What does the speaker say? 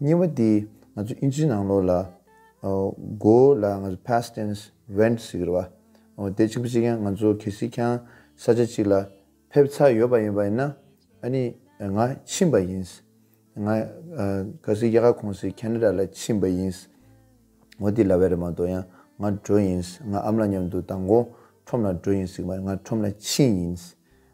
གཉིས་པ་དེ་ང་ཚོ་དབྱིན་ཇིའི་ནང་ལོགས་ལ go ལ་ང་ཚོ past tense went ཟེར་གི་རེད་བ། དེ་གཅིག་པུ་གཅིག་ཡང་ང་ཚོ་གལ་སྲིད་ཁྱང་ས་ཆ་གཅིག་ལ་ཕེབས་ཚར་ཡོད་པ་ཡིན་པ་ཡིན་ན་ཨ་ནི་ང་ཕྱིན་པ་ཡིན། ང་གལ་སྲིད་རྒྱ་གར་ཁོངས་སུ Canada ལ་ཕྱིན་པ་ཡིན། ངོ་དེ་ལ་བས་རེད་མ་གཏོགས་ཡང་ང་འགྲོ་ཡིན། ང་ཨམ་ལ་མཉམ་དུ་དང་གོང་ཁྲོམ་ལ་འགྲོ་ཡིན་ཟེར་གི་མ་རེད་ང་ཁྲོམ་ལ་ཕྱིན་ཡིན།